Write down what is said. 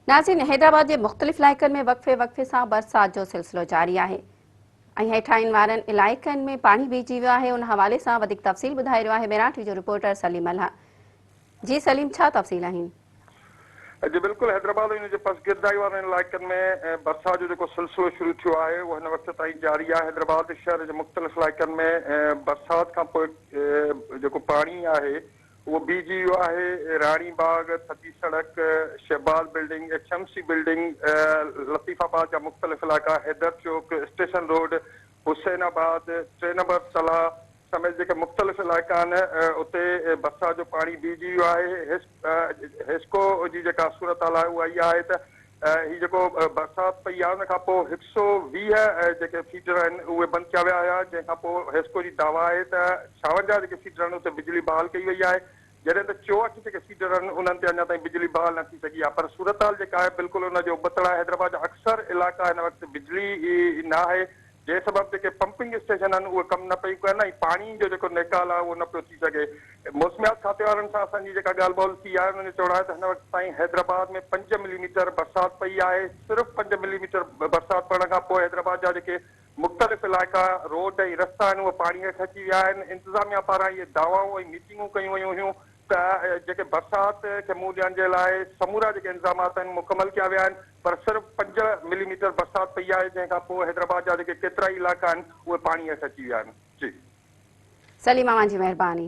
ناظرين حيدرآباد جي مختلف علائقن ۾ وقفي وقفي سان برسات جو سلسلو جاري آهي ۽ هيٺاهين وارن علائقن ۾ پاڻي بيهجي ويو آهي ان حوالي سان وڌيڪ تفصيل ٻڌائي رهيو آهي ميراٽ وي جو رپورٽر سليم الها جي سليم ڇا تفصيل آهن جي بلڪل حيدرآباد ۽ ان جي پسگردائي وارن علائقن ۾ برسات جو جيڪو سلسلو شروع ٿيو آهي اهو هن وقت تائين جاري آهي حيدرآباد شهر جي مختلف علائقن ۾ برسات کانپوء جيڪو پاڻي آهي اهو بي جي يو آهي، راڻي باغ، ٿڌي سڙڪ، Shahbaz building, H M C building, Latifabad جا مختلف علائقا، حيدر چوڪ، اسٽيشن روڊ، حسين آباد، ٽي نمبر صلاح سميت جيڪي مختلف علائقا آهن اتي برسات جو پاڻي بي جي يو آهي. هيسڪو جي جيڪا صورتحال آهي اها اها آهي ته هي جيڪو برسات پئي آهي ان کان پوء هڪ سؤ ويهه جيڪي فيڊر آهن اهي بند ڪيا ويا هيا جنهن کان پوء حيسڪو جي دعويٰ آهي ته ڇاونجاهه جيڪي فيڊر آهن اتي بجلي بحال ڪئي وئي آهي جڏهن ته چوهٺ جيڪي فيڊر آهن انهن تي اڃا تائين بجلي بحال نه ٿي سگهي آهي پر صورتحال جيڪا آهي بلڪل ان جو ابتڙ آهي حيدرآباد جا اڪثر علائقا هن وقت بجلي ئي ناهي جنهن سبب جيڪي پمپنگ اسٽيشن آهن اهي ڪم نه پيون ڪن ۽ پاڻي جو جيڪو نيڪال آهي اهو نه پيو ٿي سگهي. موسميات کاتي وارن سان اسان جي جيڪا ڳالهه ٻولهه ٿي آهي انهن جو چوڻ آهي ته هن وقت تائين حيدرآباد ۾ پنج ملي ميٽر برسات پئي آهي، صرف پنج ملي ميٽر برسات پوڻ کان پوء حيدرآباد جا جيڪي مختلف علائقا، روڊ ۽ رستا آهن اهي پاڻي هيٺ اچي ويا آهن، انتظاميا پاران اهي دعوائون ۽ ميٽنگون ڪيون ويون هيون ته جيڪي برسات کي منهن ڏيڻ جي لاء سمورا جيڪي انتظامات آهن مڪمل ڪيا ويا آهن. پر صرف پنج ملي ميٽر برسات پئي آهي جنهن کان پوء حيدرآباد جا جيڪي ڪيترائي علائقا آهن اهي پاڻي هيٺ اچي ويا آهن. جي. سليم اوهان جي مهرباني.